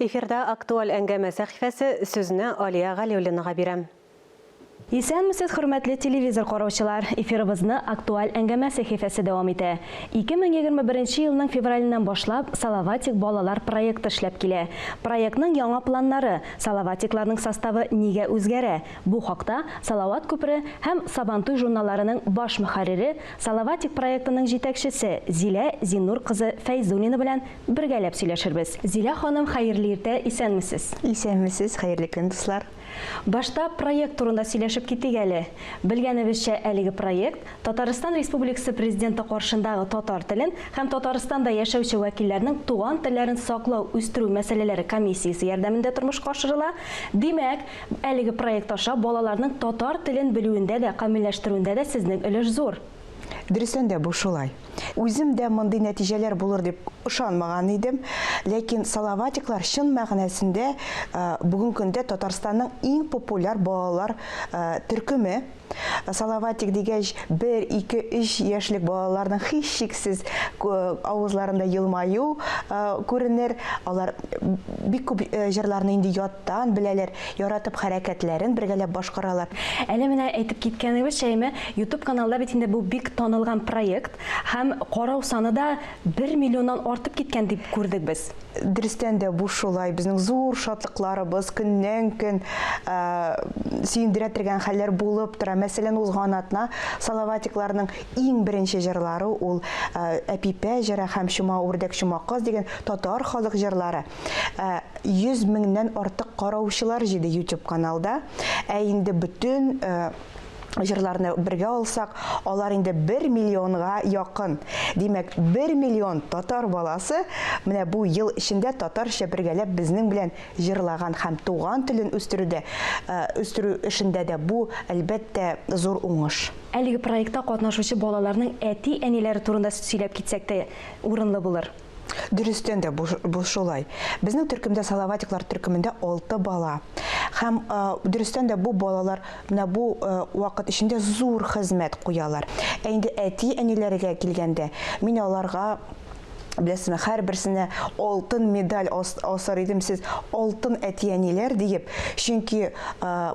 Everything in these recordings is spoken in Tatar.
Эфирда Актуаль әңгәмә сәхифәсе, сүзне Алия Галиуллинага бирәм. Исәнмесез, хөрмәтле телевизор караучылар! Эфирыбызны Актуаль әңгәмә сәхифәсе дәвам итә. 2021 елның февраленнән башлап Салаватик балалар проекты эшләп килә. Проектның яңа планнары, Салаватикларның составы нигә үзгәрә? Бу хакта Салават күпере һәм Сабантуй журналларының баш мөхәррире, Салаватик проектының җитәкчесе Зилә Зиннур кызы Фәйзуллина белән Бергәләп сөйләшербез. Зилә ханым, хәерле иртә, исәнмесез! Исәнмесез, хәерле көн, дуслар! Башта проект турында сөйләшеп китик әле. Белгәнебезчә, әлеге проект, Татарстан Республикасы Президенты каршындагы татар телен һәм Татарстанда яшәүче вәкилләрнең туган телләрен саклау, үстерү мәсьәләләре комиссиясе ярдәмендә тормышка ашырыла. Димәк, әлеге проект аша балаларның татар телен белүендә дә, камилләштерүендә дә сезнең өлеш зур. Дөрестән дә бу шулай. Үзем дә мондый нәтиҗәләр булыр дип ышанмаган идем, ләкин Салаватиклар чын мәгънәсендә бүгенге көндә Татарстанның иң популяр балалар төркеме. Салаватик дигәч, бер, ике, өч яшьлек балаларның һичшиксез авызларында елмаю күренер. Алар бик күп җырларны инде яттан беләләр. Яратып хәрәкәтләрен бергәләп башкаралар. Әле менә әйтеп киткәнегезчә име, ютуб каналда бит инде бу бик танылган проект һәм карау саны да бер миллионнан артып киткән дип күрдек без. Дөрестән дә бу шулай, безнең зур шатлыкларыбыз көннән-көн сөендерә тергән хәлләр булып тора. Мәсәлән, узган атна Салаватикларның иң беренче җырлары ул Әпипә җыры һәм Чума үрдәк, чума каз дигән татар халык җырлары. Ә 100 меңнән артык караучылар җиде YouTube каналда. Ә инде бөтен э, җырларны бергә алсак, алар инде 1 миллионга якын. Димәк, 1 миллион татар баласы менә бу ел эчендә татарча бергәләп безнең белән җырлаган һәм туган телен үстерүдә, э, үстерү эшендә дә бу, әлбәттә, зур уңыш. Әлеге проектта катнашучы балаларның әти-әниләре турында сөйләп китсәк тә урынлы булыр. Дөрестән дә бу, бу шулай. Безнең төркемдә Салаватиклар төркемендә 6 бала. Һәм э, дөрестән дә бу балалар менә бу э, вакыт эчендә зур хезмәт куялар. Ә инде әти-әниләргә килгәндә, мин аларга Беләсезме, һәрберсенә алтын медаль асар идем сез, алтын әти-әниләр диеп, чөнки э,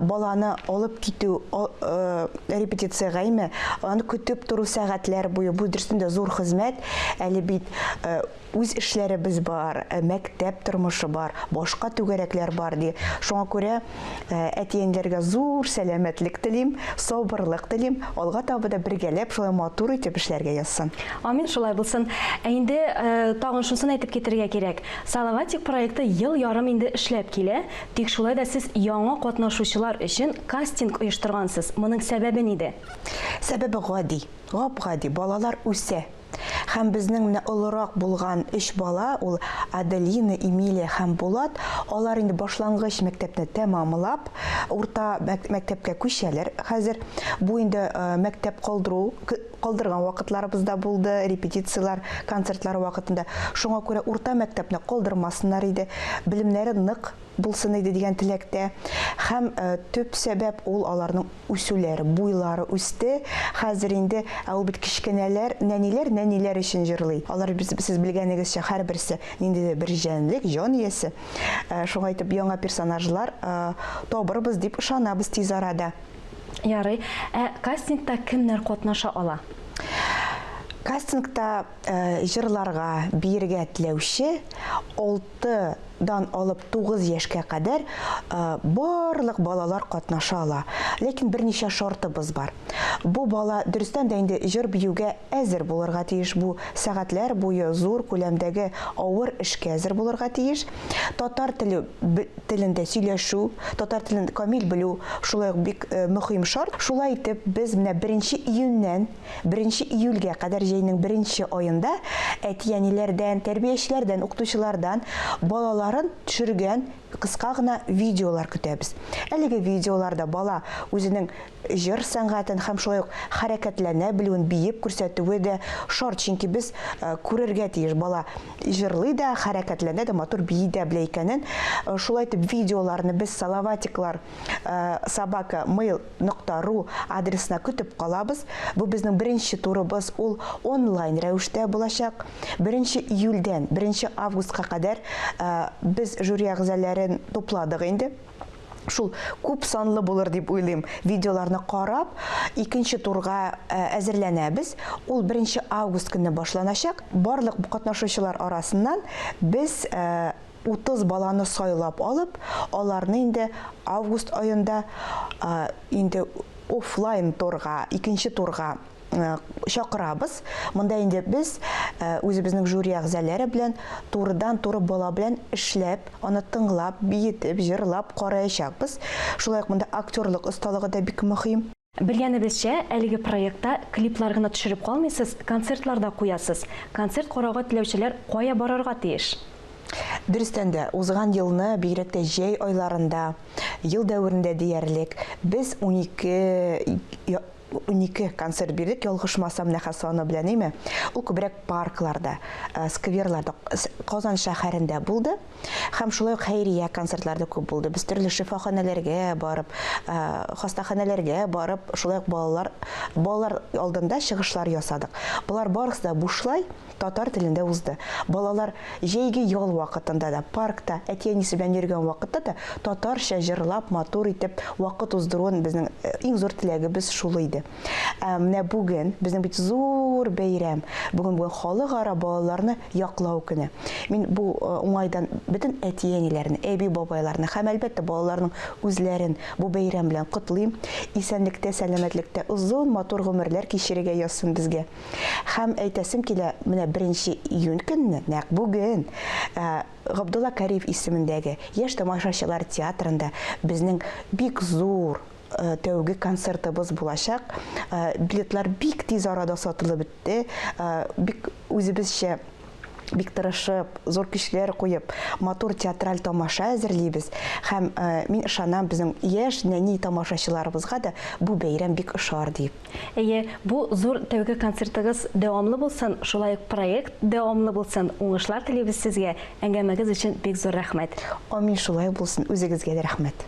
баланы алып китү э, репетиция гайме, аны көтеп тору сәгатьләр буе, бу дөрестән дә зур хезмәт, Әле бит үз эшләребез бар, мәктәп тормышы бар, башка түгәрәкләр бар, ди. Шуңа күрә әтиәниләргә зур сәламәтлек телим, сабырлык телим, алга таба да бергәләп шулай матур итеп эшләргә язсын. Амин, шулай булсын. Ә инде тагын шунысын әйтеп китәргә кирәк, Салаватик проекты ел ярым инде эшләп килә, тик шулай да сез яңа катнашучылар өчен кастинг оештыргансыз, моның сәбәбе нидә? Сәбәбе гади. Гап-гади, балалар үсә. Һәм безнең менә олырак булган өч бала, ул Аделина, Эмилия һәм Булат, алар инде башлангыч мәктәпне тәмамлап, урта мәктәпкә күчәләр хәзер. Бу инде мәктәп калдыру, калдырган вакытларыбыз да булды, репетицияләр, концертлар вакытында. Шуңа күрә урта мәктәпне калдырмасыннар иде. Белемнәре нык. булсын иде дигән теләктә. Һәм төп сәбәп ул аларның үсүләре, буйлары үсте. Хәзер инде, ә ул бит кечкенәләр, нәниләр нәниләр өчен җырлый. Алар без, сез белгәнегезчә, һәрберсе ниндидер бер җәнлек, җан иясе. Шуңа итеп яңа персонажлар табырбыз дип ышанабыз тиз арада. Ярый. Ә кастингта кемнәр катнаша ала? Кастингта җырларга, биергә теләүче 6 Алты дан алып тугыз яшькә кадәр барлык балалар катнаша ала. Ләкин берничә шартыбыз бар. Бу бала дөрестән дә инде җыр-биюгә әзер булырга тиеш, бу сәгатьләр буе зур күләмдәге авыр эшкә әзер булырга тиеш. Татар теле телендә сөйләшү, татар телен камил белү шулай ук бик мөхим шарт. Шулай итеп, без менә беренче июньнән. Беренче июльгә кадәр җәйнең беренче аенда әти-әниләрдән, тәрбиячеләрдән, укытучылардан балаларын төшергән кыска гына видеолар көтәбез. Әлеге видеоларда бала үзенең җыр сәнгатен һәм шулай ук хәрәкәтләнә белүен биеп күрсәтүе дә шарт, чөнки без күрергә тиеш, бала җырлый да, хәрәкәтләнә дә, матур бии дә белә икәнен. Шулай итеп видеоларны без Салаватиклар собака mail нокта ру адресына көтеп калабыз. Бу безнең беренче турыбыз, ул онлайн рәвештә булачак. 1 июльдән 1 августка кадәр без жюри әгъзаләрен тупладык инде. Шул күп санлы булыр дип уйлыйм. Видеоларны карап, икенче турга әзерләнәбез. Ул 1 август көнне башланачак. Барлык катнашучылар арасыннан без Утыз баланы сайлап алып, аларны инде август аенда инде офлайн торга, икенче турга чакырабыз. Монда инде без үзебезнең жюри әгъзалары белән турыдан-туры бала белән эшләп, аны тыңлап, биетеп, җырлап караячакбыз. Шулай ук монда актерлык осталыгы да бик мөһим. Белгәнебезчә, әлеге проектта клиплар гына төшереп калмыйсыз, концертлар да куясыз. Концерт карауга теләүчеләр кая барырга тиеш? Дөрестән дә, узган елны, бигрәк тә җәй айларында, ел дәверендә диярлек, без унике унике концерт бирдек, ялгышмасам, Нәхәс салоны белән, әйме? Ул күбрәк паркларда, скверларда, Казан шәһәрендә булды. Һәм шулай ук хәйрия концертлар да күп булды. Без төрле шифаханәләргә барып, хастаханәләргә барып, шулай ук балалар балалар алдында чыгышлар ясадык. Болар барысы да бушлай татар телендә узды. Балалар җәйге ял вакытында да, паркта, әти-әнисе белән йөргән вакытта да татарча җырлап, матур итеп вакыт уздыруын безнең иң зур теләгебез шул иде. Ә менә бүген безнең бит зур бәйрәм. Бүген бүген халыкара балаларны яклау көне. Мин бу э, уңайдан бөтен әти-әниләрне, әби-бабайларны һәм әлбәттә балаларның үзләрен бу бәйрәм белән котлыйм. Исәнлектә, сәламәтлектә озын матур гомерләр кичерергә язсын безгә. Һәм әйтәсем килә, менә 1 июнь көнне, нәкъ бүген, э, Габдулла Кариев исемендәге Яшь тамашачылар театрында безнең бик зур Э, тәүге концертыбыз булачак. Э, билетлар бик тиз арада сатылып бетте. Э, бик үзебезчә бик тырышып, зур көчләр куеп, матур театраль тамаша әзерлибез. Һәм мин ышанам безнең яшь нәни тамашачыларыбызга да бу бәйрәм бик ошар дип. Әйе, бу зур тәүге концертыгыз дәвамлы булсын, шулай ук проект дәвамлы булсын. Уңышлар телибез сезгә. Әңгәмәгез өчен бик зур рәхмәт. Амин шулай булсын. Үзегезгә дә рәхмәт.